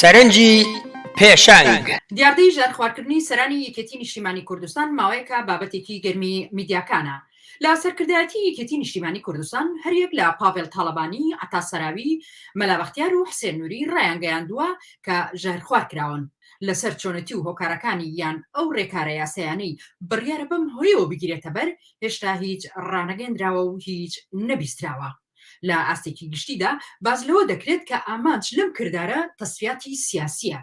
سەرنجی پێشەنگ. دیاردەی ژەهرخواردکردنی سەرانی یەکێتی نیشتیمانی کوردستان ماوەیەکە بابەتێکی گەرمی میدیاکانە. لە سەرکردایەتی یەکێتی نیشتیمانی کوردستان هەریەک لە پاڤێڵ تاڵەبانی، عەتا سەراوی، مەلا بەختیار و حسێن نوری ڕایانگەیاندووە کە ژەهرخوار کراون. لەسەر چۆنێتی و هۆکارەکانی یان ئەو ڕێکارە یاسایانەی بڕیارە بەم هۆیەوە بگیرێتەبەر، هێشتا هیچ ڕانەگەیەندراوە و هیچ نەبیستراوە. لە ئاستێکی گشتیدا باس لەوە دەکرێت کە ئامانج لەم کردارە تەسفیاتی سیاسییە.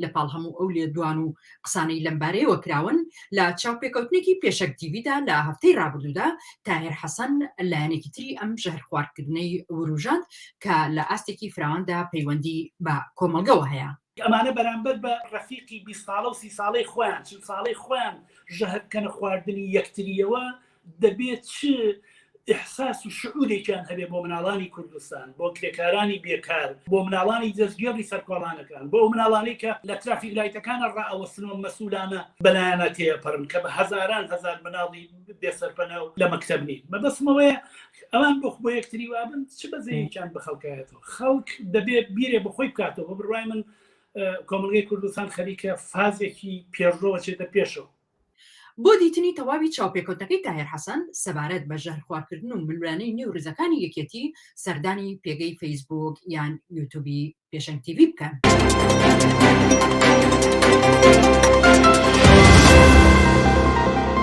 لەپاڵ هەموو ئەو لێدوان و قسانەی لەمبارەیەوە کراون، لە چاوپێکەوتنێکی پێشەک تیڤیدا لە هەفتەی ڕابردوودا، تاهێر حەسەن لایەنێکی تری ئەم ژەهرخواردکردنەی وروژاند کە لە ئاستێکی فراواندا پەیوەندی بە کۆمەڵگەوە هەیە. ئەمانە بەرامبەر بە ڕەفیقی بیست ساڵە و سی ساڵەی خۆیان چل ساڵەی خۆیان ژەهر بکەنە خواردنی یەکتریەوە دەبێت چ ئحساس و شعورێکیان هەبێ بۆ مناڵانی کوردستان بۆ کرێکارانی بێکار بۆ مناڵانی دەستگێڕی سەرکۆڵانەکان بۆ مناڵانی کە لە ترافیک لایتەکانە ڕئەوەسنەوە مەسولانە بەلایەنە تێپەڕن کە بە هزاران هزار مناڵی بێسەرپەنە و لە مەکتب نین مەبەسمەوەیە ئەوان بۆخ بۆ یەکتری وابن چ بەزەیەکیان بە خەڵکایەت خەڵک دەبێت بیرێ بەخۆی بکاتەوە بڕای من کۆمەلگەی کوردستان خەریکە فازێکی پێشڕەوە چێتە پێشەوە بۆ دیتنی تەواوی چاوپێکەوتەکەی تاهێر حەسەن سەبارەت بە ژەهرخواردکردن و ملوانەی نێو ڕزەکانی یەکێتی سەردانی پێگەی فەیسبوک یان یوتوبی پێشنگ تیV بکەن.